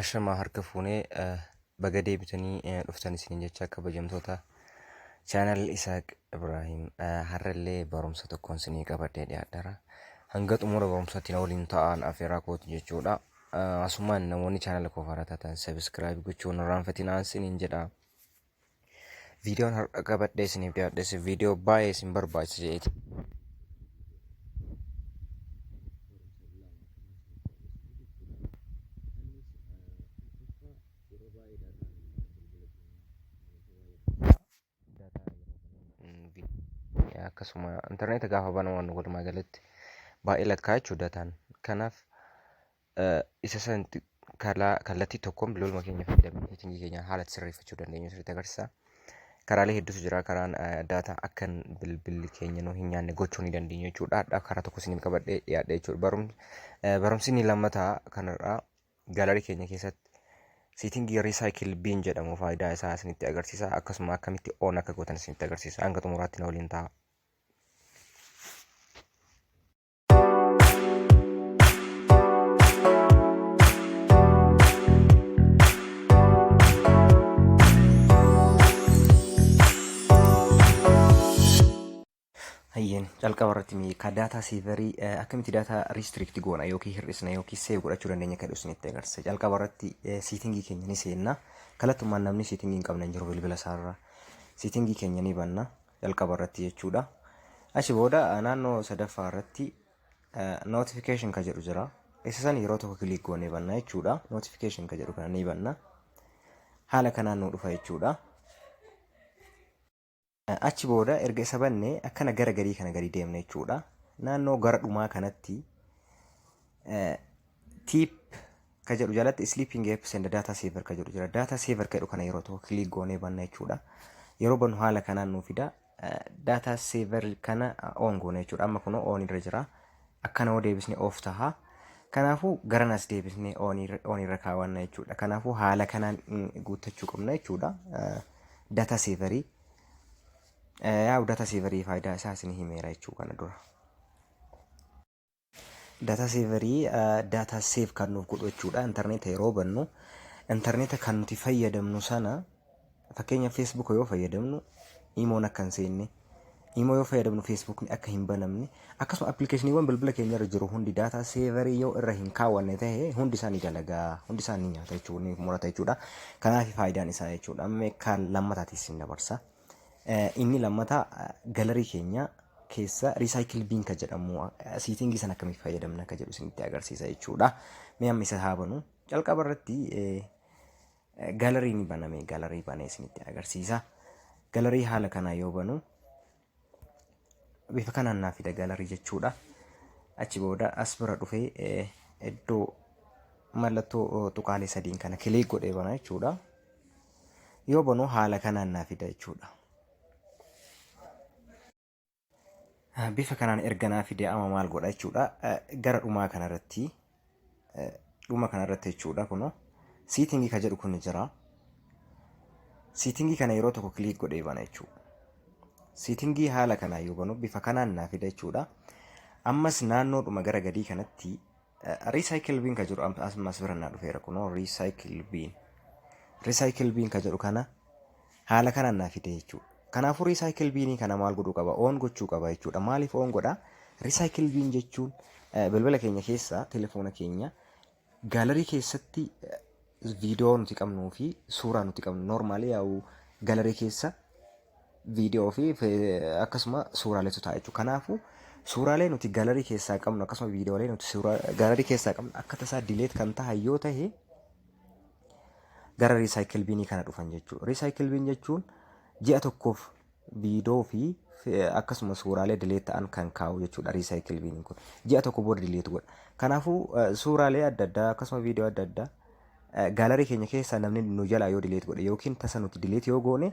Ashamaa harka fuunee baga deebitanii dhuftan isiniin jecha kabajamtoota chaanal Isaaq Ibraahiim har'allee barumsa tokkoon isinii qabadhee dhiyaadhara. Hanga xumura barumsaatti na waliin ta'aa afeeraa kootu jechuudha. Asumaan namoonni chaanala koo faaraa taatan sabiskiraayib gochuun irraanfatinaa isiniin jedha. Viidiyoon har'a qabadhee isiniif dhiyaadhes viidiyoo baay'ee isin barbaachisa jeeti. akkasuma intarneeta gaafa banamu walumaa galatti baay'ee lakkaa'achuu dataan kanaaf isa san kalaa kallattii tokkoon bilooluma keenya fayyadamnee seetingii keenya haala itti sirreeffachuu dandeenyu sirriitti agarsiisa. Karaalee hedduutu jira. Karaan daataa akka bilbilli keenya nu hin nyaanne gochuu ni dandeenya jechuudha. Hadhaa karaa tokko isiniif qabadhee dhiyaadha jechuudha. Barumsi barumsi inni lammataa kanarraa gaalarii keenya keessatti seetingii riisaayikil biin jedhamu faayidaa isaa isinitti agarsiisa. Akkasuma akkamitti oon akka gootan isinitti agarsiisa. Hanga xumuraatti na waliin ta'a. Hayyeen calqaba irratti mee ka daataa seevarii akkamitti daataa riistriikti goona yookiin hir'isna yookiin seev godhachuu dandeenya kan isinitti agarsiisa. Calqaba irratti siitingii keenya ni seenna. Kallattumaan namni siitingii hin qabne hin jiru bilbila isaarra. Siitingii keenya ni banna. jalqaba irratti jechuudha. Achi booda naannoo sadaffaa irratti notification ka jedhu jira. Isa san yeroo tokko kiliik goonee banna jechuudha. Notification ka jedhu kana ni banna. Haala kanaan nu dhufa jechuudha. Achi booda erga isa banne akkana gara gadii kana gadi deemna jechuudha. Naannoo gara dhumaa kanatti Tiip ka jedhu jalatti sleeping apps and data saver ka jedhu jira. Data saver ka jedhu kana yeroo tokko click goonee banna jechuudha. Yeroo bannu haala kanaan nuu fida. Data saver kana on goone jechuudha. Amma kunoo on irra jira. Akkana yoo deebisne off taha. Kanaafuu garan as deebisne on irra kaawwanna jechuudha. Kanaafuu haala kanaan guuttachuu qabna jechuudha. Data saverii. Yaa data saverii faayidaa isaa isin himeera jechuudha kana dura. Data saver data save kan nuuf godhu jechuudha. Intarneeta yeroo bannu intarneeta kan nuti fayyadamnu sana fakkeenya Facebook yoo fayyadamnu imoon akka hin seenne imoo yoo fayyadamnu Facebook akka hin banamne akkasuma appilikeeshiniiwwan bilbila keenya irra jiru hundi data saver yoo irra hin kaawwanne ta'e hundi isaa ni dalagaa hundi isaa ni nyaata jechuudha ni murata jechuudha. Kanaaf faayidaan isaa jechuudha. Amma kan lammataatis hin dabarsa. Inni lammataa galarii keenya keessa recycle bin ka jedhamu siitingi san akkamitti fayyadamna ka jedhu isinitti agarsiisa jechuudha. Mee amma isa haa banu. Calqaba irratti galarii ni baname galarii banee isinitti agarsiisa. Galarii haala kanaa yoo banu bifa kanaan naa fida galarii jechuudha. Achi booda as bira dhufee iddoo mallattoo tuqaalee sadiin kana kilik godhee bana jechuudha. Yoo banu haala kanaan naa fida jechuudha. Bifa kanaan erga naa fide amma maal godha jechuudha. Gara dhumaa kanarratti dhuma kanarratti jechuudha kunoo siitingii ka jedhu kun jira. Siitingii kana yeroo tokko kiliik godhee bana jechuudha. Siitingii haala kanaan yoo banu bifa kanaan naa fida jechuudha. Ammas naannoodhuma gara gadii kanatti Recycle bin ka jedhu am- as as bira naa dhufeera kunoo recycle bin. Recycle bin ka jedhu kana haala kanaan naa fide jechuudha. Kanaafuu recycle binii kana maal godhuu qaba? Oon gochuu qaba jechuudha. Maaliif oon godha? Recycle bin jechuun eh, bilbila keenya keessaa telefoona keenya gaalarii keessatti eh, viidiyoo nuti qabnuu fi suuraa nuti qabnu normaali yaa'u gaalarii keessa viidiyoo fi akkasuma suuraaleetu ta'a jechuudha. Kanaafuu suuraalee nuti galarii keessaa qabnu akkasuma viidiyoolee nuti galarii keessaa qabnu akka tasaa dileet kan ta'a yoo ta'e gara riisaayikil biinii kana dhufan jechuudha. Riisaayikil biin jechuun ji'a tokkoof viidiyoo fi akkasuma suuraalee dileet ta'an kan kaa'u jechuudha riisaayikil biiniin kun. Ji'a tokko booda dileet godha. Kanaafuu suuraalee adda addaa akkasuma viidiyoo adda addaa Gallery keenya keessaa namni nu jalaa yoo delete godhe yookiin tasa nuti delete yoo goone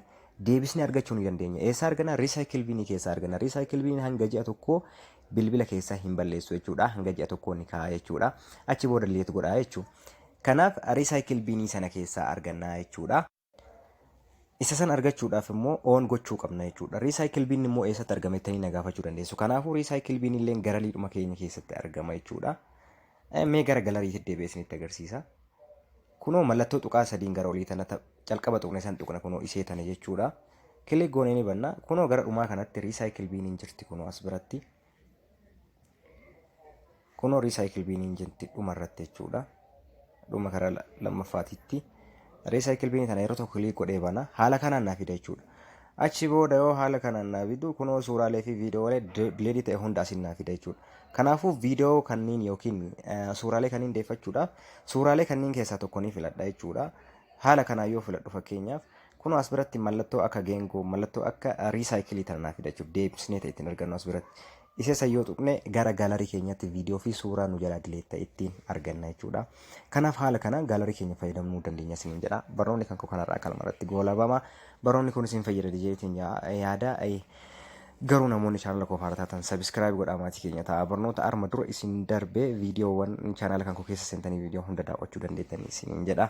deebisnee argachuu ni dandeenya. Eessaa argana? Recycle bin keessaa argana. Recycle bin hanga ji'a tokkoo bilbila keessaa hin balleessu jechuudha. Hanga ji'a tokkoo ni kaa'a jechuudha. Achi booda delete godha jechuudha. Kanaaf recycle bin sana keessaa arganna jechuudha. Isa san argachuudhaaf immoo oon gochuu qabna jechuudha. Recycle bin immoo eessatti argama jettanii na gaafachuu dandeessu. Kanaafuu recycle bin illee garaliidhuma keenya keessatti argama jechuudha. Eh, Mee gara galariitti deebi'ee isinitti agarsiisa. Kunoo mallattoo tuqaa sadiin gara olii tana ta- calqaba tuqne san tuqna kunoo ishee tana jechuudha. Kilik goonee ni banna. Kunoo gara dhumaa kanatti recycle bin hin jirti kunoo as biratti. Kunoo recycle bin hin jirti dhuma irratti jechuudha. Dhuma karaa la- lammaffaatitti. Recycle bin kana yeroo tokko click godhee bana. Haala kanaan naa fida jechuudha. Achi booda yoo haala kanaan naa fidu kunoo suuraalee fi viidiyoowwalee dileedii ta'e hunda asiin naa fida jechuudha. Kanaafuu viidiyoo kanniin yookiin eh, suuraalee kanniin deeffachuudhaaf suuraalee kanniin keessaa tokko ni filadha jechuudha. Haala kanaan yoo filadhu fakkeenyaaf Kunoo as biratti mallattoo akka geengoo, mallattoo akka riisaayikilii tana naa fidachuuf deebisnee ta'e ittiin argannu as biratti. Isa san yoo tuqne gara gaalarii keenyatti viidiyoo fi suuraa nu jalaa dileet ta'e ittiin arganna jechuudha. Kanaaf haala kanaan gaalarii keenya fayyadamuu dandeenya isiniin jedha. Barnoonni kan koo kanarraa kalma irratti goolabama. Barnoonni kun isin fayyada jeetiin yaada. Garuu namoonni chaanala koo faana taatan sabiskiraayib godhaa maatii keenya ta'a. Barnoota arma dura isin darbee viidiyoowwan chaanala kan koo keessa seentanii viidiyoo hunda daawwachuu dandeettanii isiniin jedha.